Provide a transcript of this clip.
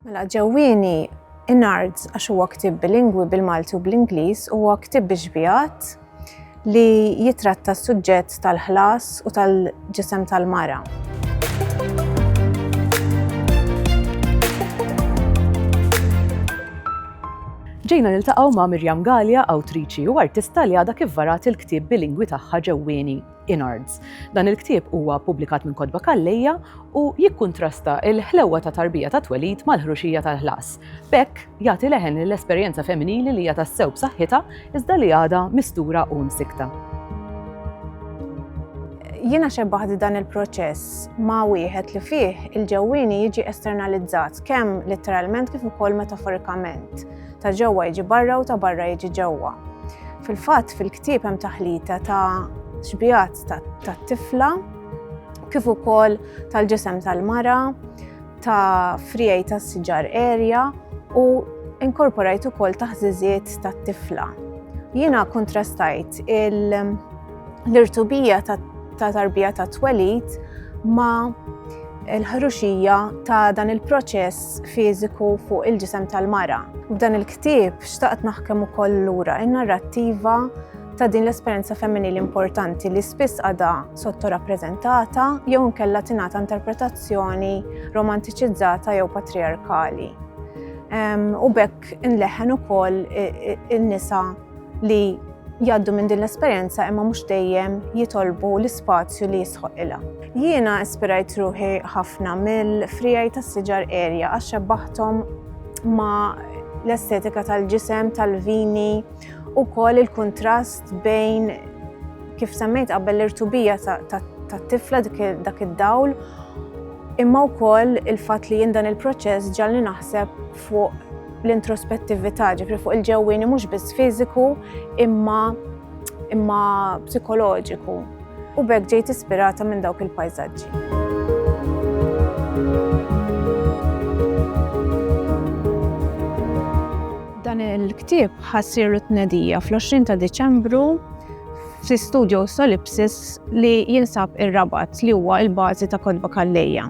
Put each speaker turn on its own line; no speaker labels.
Mela ġewwieni Inards għax huwa ktib bilingwi bil-Malti u bl-Ingliż huwa ktib biex bijat li jitratta s-suġġett tal-ħlas u tal-ġisem tal-mara.
Ġejna niltaqgħu ma' Mirjam Galja, awtriċi u artista li għadha kif varat il-ktieb bilingwi tagħha ġewwieni. Inards. Dan il-ktieb huwa ppubblikat minn Kotba Calleja u jikkuntrasta l-ħlewwa ta' tarbija ta' twelid mal-ħruxija tal-ħlas. B'hekk, jagħti leħen lill-esperjenza femminili li hija tassew b'saħħitha iżda li għadha mistura u msikkta.
Jiena xebbaħt dan il-proċess ma' wieħed li fih il-ġewwieni jiġi esternalizzat kemm letteralment kif ukoll metaforikament. ta' ġewwa jiġi barra u ta' barra jiġi ġewwa. Fil-fatt fil-ktieb hemm taħlita ta' xbijat tat-tifla kif ukoll tal-ġisem tal-mara, ta' frijaj ta' siġar erja u inkorporajt ukoll taħżiżiet tat-tifla. Jiena kontrastajt il- l-irtubija ta' tarbija ta' twelid ma' l-ħruxija ta' dan il-proċess fiżiku fuq il-ġisem tal-mara. F'dan il-ktieb xtaqt naħkem ukoll lura in-narrattiva ta' din l-esperjenza femminili importanti li spiss għadha sottorappreżentata jew inkella tingħata interpretazzjoni romantiċizzata jew patriarkali. U bekk inleħen ukoll in-nisa li jgħaddu minn din l-esperjenza imma mhux dejjem jitolbu l-ispazju li jisħoq ilha. Jiena ispirajt ruħi ħafna mill-frijaj tas-siġar erja għax xebbaħthom ma l-estetika tal-ġisem tal-vini u kol il-kontrast bejn kif semmejt qabel l-irtubija tat-tifla dak id-dawl imma wkoll il-fatt li jien dan il-proċess ġalli naħseb fuq l-introspettività, ġifri fuq il-ġewwini mhux biss fiżiku imma imma psikoloġiku. U bekk ġejt ispirata minn dawk il-pajsaġġi. Dan il-ktib ħassir it-tnedija fl-20 ta' Diċembru fi studio Solipsis li jinsab ir-Rabat li huwa l-bażi ta' Kodba Kallejja.